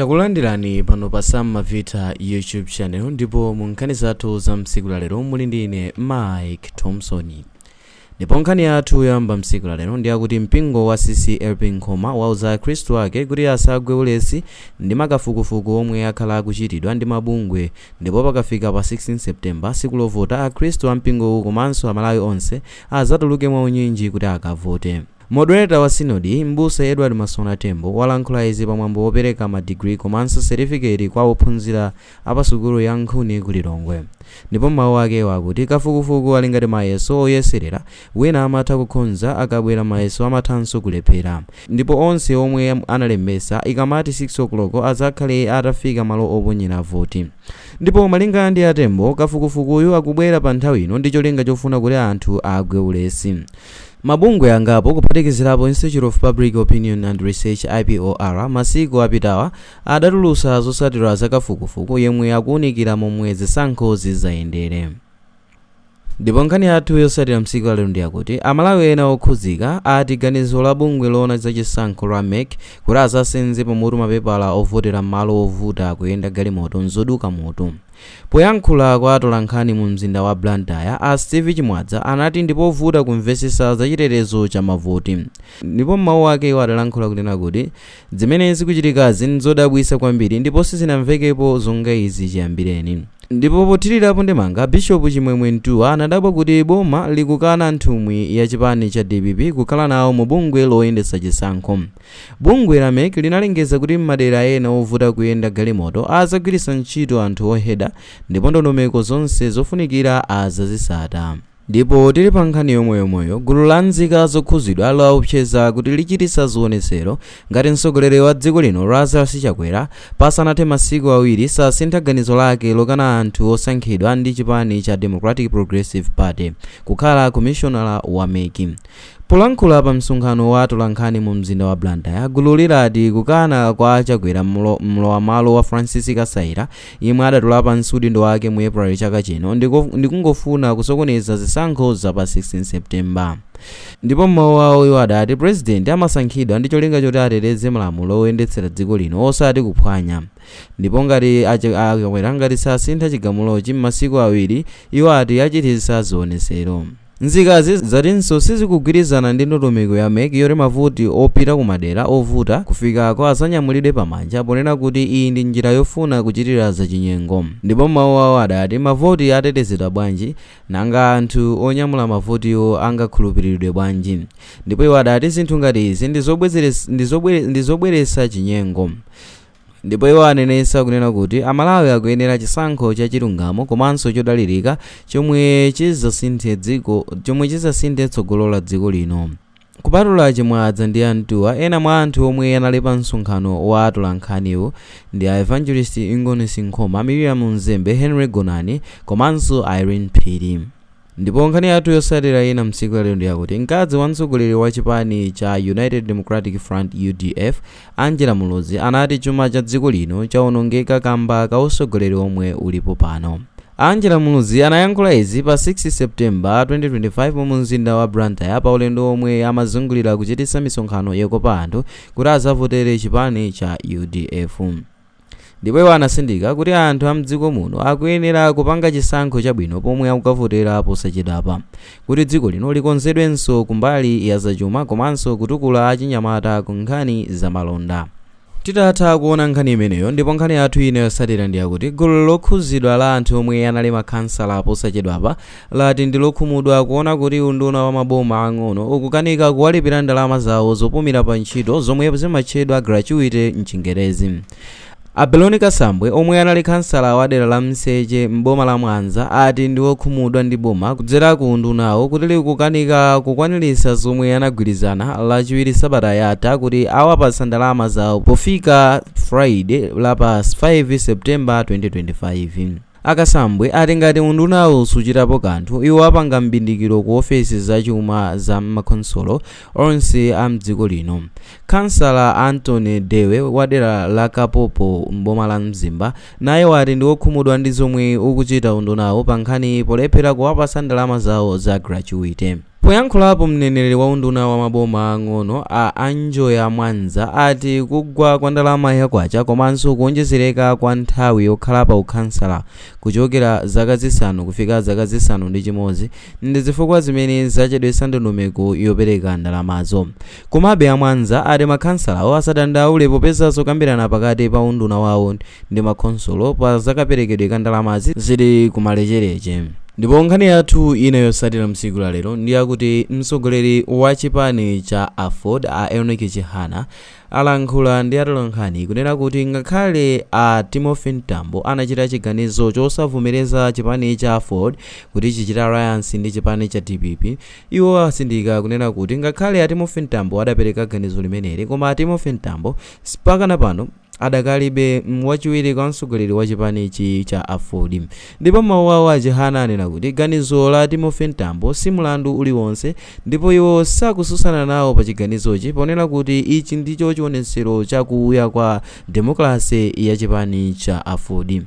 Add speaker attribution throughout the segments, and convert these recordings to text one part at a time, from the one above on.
Speaker 1: Takulandirani pano pa Sam Mavita YouTube channel ndipo mu nkhani zathu za mtsiku la lero muli ndi ine Mike Thompson. Ndipo nkhani yathu yoyamba mtsiku la lero ndi yakuti mpingo wa CCAP Nkhoma wauza Akhristu ake kuti asagwe ulesi ndi makafukufuku omwe akhala akuchitidwa ndi mabungwe ndipo pakafika pa 16 September tsiku lovota Akhristu a mpingowu komanso Amalawi onse adzatuluke mwaunyinji kuti akavote. Moderator wa Sinodi, M'busa Edward Masoona Tembo, walankhula izi pa mwambo wopereka ma degree komanso certificate kwa ophunzira a pa sukulu ya Nkhuni ku Lilongwe. Ndipo m'mawu ake iwo akuti kafukufuku ali ngati mayeso oyeserera, wina amatha kukhonza akabwera mayeso amathanso kulephera. Ndipo onse omwe analembesa, ikamati 6:00 azakhale atafika malo oponyera voti. Ndipo malinga ndi a Tembo, kafukufukuyu akubwera pa nthawi ino ndi cholinga chofuna kuti anthu agwe ulesi. Mabungwe angapo, kuphatikizirapo Institute of Public Opinion and Research, IPOR, masiku apitawa adatulutsa zotsatira za kafukufuku yemwe akuunikira momwe zisankho zidzayendere. Ndipo nkhani yathu yotsatira msiku lalero ndiyakuti Amalawi ena okhudzika ati ganizo la bungwe loona za chisankho la MEC kuti adzasenze pamutu mapepala ovotera m'malo ovuta kuyenda galimoto nzoduka mutu. Poyankhula kwa atolankhani mu mzinda wa Blantyre, a Steve Chimwadza anati ndipovuta kumvesesa za chitetezo cha mavoti. Ndipo m'mawu ake iwo adalankhula kunena kuti zimene zikuchitikazi nzodabwitsa kwambiri ndipo sizinamvekepo zonga izi chiyambireni. Ndipo pothirirapo ndemanga, Bishop Chimwemwe Ntuwa anadabwa kuti boma likukana nthumwi ya chipani cha DPP kukhala nawo mu bungwe loyendetsa chisankho. Bungwe la MEC linalengeza kuti m'madera ena ovuta kuyenda galimoto azagwiritsa ntchito anthu oheda ndipo ndondomeko zonse zofunikira azazitsata. Ndipo tili pa nkhani yomweyomweyo, gulu la nzika zokhuzidwa laopseza kuti lichititsa zionetsero ngati mtsogoleri wa dziko lino Lazarus Chakwera pasanathe masiku awiri sasintha ganizo lake lokana anthu osankhidwa ndi chipani cha Democratic Progressive Party kukhala komishonala wa MEC. Polankhula pa msonkhano wa atolankhani mu mzinda wa Blantyre, gululi lati kukana kwa a Chakwera mlowam'malo wa Francis Kasaila yemwe adatula pansi udindo wake mu April chaka chino ndikungofuna kusokoneza zisankho za pa 16 September. Ndipo m'mawu awo iwo adati Purezidenti amasankhidwa ndi cholinga choti ateteze malamulo oyendetsera dziko lino osati kuphwanya ndipo ngati a Chakwera ngati sasintha chigamulochi m'masiku awiri, iwo ati achititsa zionetsero. Nzikazi zatinso sizikugwirizana ndi ndondomeko ya MEC yoti mavoti opita ku madera ovuta kufikako adzanyamulidwe pa manja ponena kuti iyi ndi njira yofuna kuchitira zachinyengo ndipo m'mawu awo adati mavoti atetezedwa bwanji nanga anthu onyamula mavotiwo angakhulupiriridwe bwanji ndipo iwo adati zinthu ngati izi ndi zobweretsa chinyengo Ndipo iwo anenetsa kunena kuti Amalawi akuyenera chisankho cha chilungamo komanso chodalirika chomwe chi chomwe chizasinthe tsogolo la dziko lino. Kupatula a Chimwaza ndi a Mtuwa, ena mwa anthu omwe anali pa msonkhano wa atolankhaniwu ndi a Evangelist Ingonis Nkhoma, Mirriam Mzembe, Henry Gonani komanso Ireen Phiri. Ndipo nkhani yathu yotsatira ina mtsiku la lero ndi yakuti mkazi wa mtsogoleri wa chipani cha United Democratic Front, udf, Angela Muluzi anati chuma cha dziko lino chaonongeka kamba ka utsogoleri omwe ulipo pano. Angela Muluzi anayankhula izi pa 6 September, 2025 mu mzinda wa Blantyre pa ulendo omwe amazungulira kuchititsa misonkhano yokopa anthu kuti azavotere chipani cha udf. Ndipo iwo anatsindika kuti anthu a mdziko muno akuyenera kupanga chisankho chabwino pomwe akukavotera posachedwapa kuti dziko lino likonzedwenso kumbali ya zachuma komanso kutukula achinyamata ku nkhani za malonda. Titatha kuona nkhani imeneyo ndipo nkhani yathu ina yotsatira ndi yakuti gulu lokhuzidwa la anthu omwe anali makhansala posachedwapa lati ndi lokhumudwa kuona kuti unduna wa maboma ang'ono ukukanika kuwalipira ndalama zawo zopumira pa ntchito zomwe zimatchedwa gratuity mchingerezi. A Beloni Kasambwe omwe anali khansala wa dera la Mseche m'boma la Mwanza ati ndi okhumudwa ndi boma kudzera ku undunawo kuti likukanika kukwaniritsa zomwe anagwirizana lachiwiri sabata yatha kuti awapatsa ndalama zawo pofika Friday la pa 5 September 2025. A Kasambwe ati ngati undunawu suchitapo kanthu, iwo apanga m'bindikiro ku ofesi za chuma za m'makhonsolo onse a m'dziko lino. Khansala Anthony Dewe wa dera la Kapopo m'boma la Mzimba naye wati ndi wokhumudwa ndi zomwe ukuchita undunawu pa nkhani polephera kuwapatsa ndalama zawo za gratuity. Poyankhulapo mneneri wa unduna wa maboma aang'ono a Anjoya Mwanza ati kugwa kwa ndalama ya kwacha komanso kuonjezereka kwa nthawi yokhala pa ukhansala kuchokera zaka zisanu kufika zaka zisanu ndi chimodzi ndi zifukwa zimene zachedwetsa ndondomeko yopereka ndalamazo. Komabe a Mwanza ati makhansalawo asadandaule popeza zokambirana pakati pa unduna wawo ndi makhonsolo pa zakaperekedwe ka ndalamazi zili kumalecheleche. Ndipo nkhani yathu ina yotsatira mtsiku la lero ndi yakuti mtsogoleri wa chipani cha aford a Enock Chihana alankhula ndi atolankhani kunena kuti ngakhale a Timothy Mtambo anachita chiganizo chosavomereza chipani cha aford kuti chichite alliance ndi chipani cha dpp Iwo atsindika kunena kuti ngakhale a Timothy Mtambo adapereka ganizo limeneli koma a Timothy Mtambo mpakana pano adakalibe wachiwiri kwa mtsogoleri wa chipani cha aford ndipo m'mawu awo a Chihana anena kuti ganizo la Timothy Mtambo si mlandu uliwonse ndipo iwo sakutsutsana nawo pa chiganizochi ponena kuti ichi ndicho chionetsero cha kuya kwa demokalase ya chipani cha aford.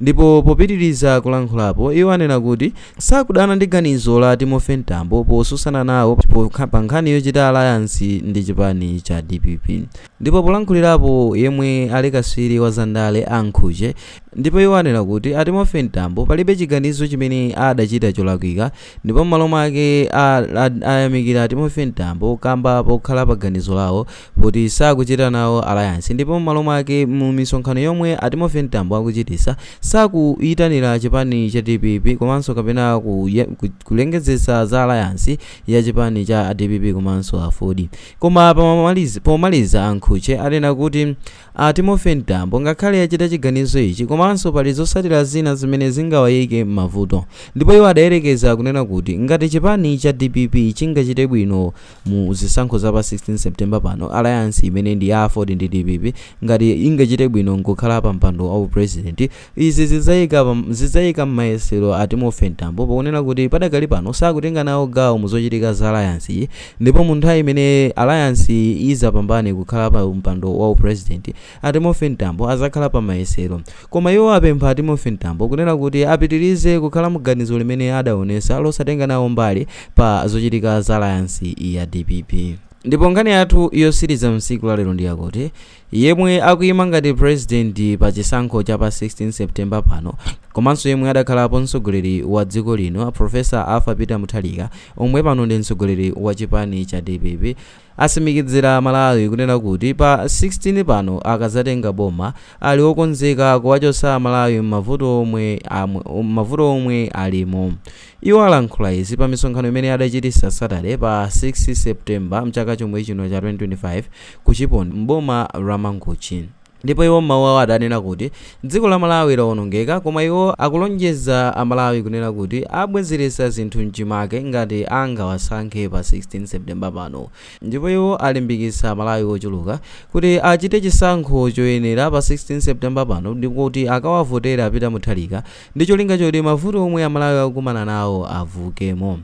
Speaker 1: Ndipo popitiriza kulankhulapo, iwo anena kuti sakudana ndi ganizo la Timothy Mtambo posusana nawo pa nkhani yochita alayansi ndi chipani cha dpp. Ndipo polankhulirapo yemwe ali kaswiri wa zandale a Nkhuche ndipo iwo anena kuti a Timothy Mtambo palibe chiganizo chimene adachita cholakwika ndipo m'malo mwake ayamikira a Timothy Mtambo kamba pokhala paganizo lawo kuti sakuchita nawo alliance ndipo mmalo mwake mu misonkhano yomwe a Timothy Mtambo akuchitisa sakuyitanira chipani cha dpp komanso kapena kulengezetsa za alliance ya chipani cha dpp komanso aford. Koma pomaliza a Nkhuche anena kuti a Timothy Mtambo ngakhale achita chiganizo ichi komanso pali zotsatira zina zimene zingawayike mmavuto ndipo iwo adayerekeza kunena kuti ngati chipani cha dpp chingachite bwino mu zisankho za pa 16 September pano, alliance imene ndi ya aford ndi dpp ngati ingachite bwino nkukhala pa mpando wa u president, izi zidzaika mmayesero a Timothy Mtambo ponena kuti padakali pano sakutenga nawo gawo mu zochitika za alliance yi ndipo mu nthawi imene alliance yi idzapambane kukhala pa mpando wa u president, A Timothy Mtambo azakhala pa mayesero. Koma iwo apempha a Timothy Mtambo kunena kuti apitirize kukhala mu ganizo limene adaonesa losatenga nawo mbali pa zochitika za alayansi ya dpp. Ndipo nkhani yathu yotsiriza mtsiku la lero ndi yakuti, yemwe akuima ngati president pa chisankho cha pa 16 September pano, komanso yemwe adakhalapo mtsogoleri wa dziko lino Professor Arthur Peter Mutharika omwe pano ndi mtsogoleri wa chipani cha dpp, Atsimikizira amalawi kunena kuti pa 16 pano akazatenga boma ali okonzeka kuwachotsa amalawi mmavuto omwe alimo. Iwo alankhula izi pa misonkhano imene adachitisa Saturday pa 6 September mchaka chomwechino cha 2025 ku Chiponde m'boma la Mangochi. Ndipo iwo m'mawu awo adanena kuti dziko la Malawi lawonongeka koma iwo akulonjeza a Malawi kunena kuti abwezeretsa zinthu mchimake ngati angawasankhe pa 16 September pano ndipo iwo alimbikitsa a Malawi ochuluka kuti achite chisankho choyenera pa 16 September pano ndipo kuti akawavotere a Peter Mutharika ndi cholinga choti mavuto omwe a Malawi akukumana nawo avuukemo.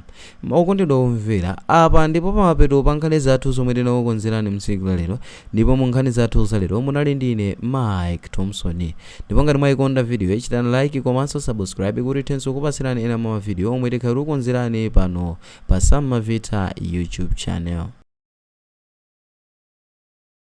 Speaker 1: Okondedwa omvera, apa ndipo pamapeto pa nkhani zathu zomwe tinakukonzerani mtsiku la lero, ndipo mu nkhani zathu za lero munali ndine Mike Thomson. Ndipo ngati mwayikonda vidiyoyi chitani like komanso subscribe kuti tithenso kukupatsirani ena mwa ma video omwe tikhale tikukonzerani pano pa Sam Mavita YouTube channel.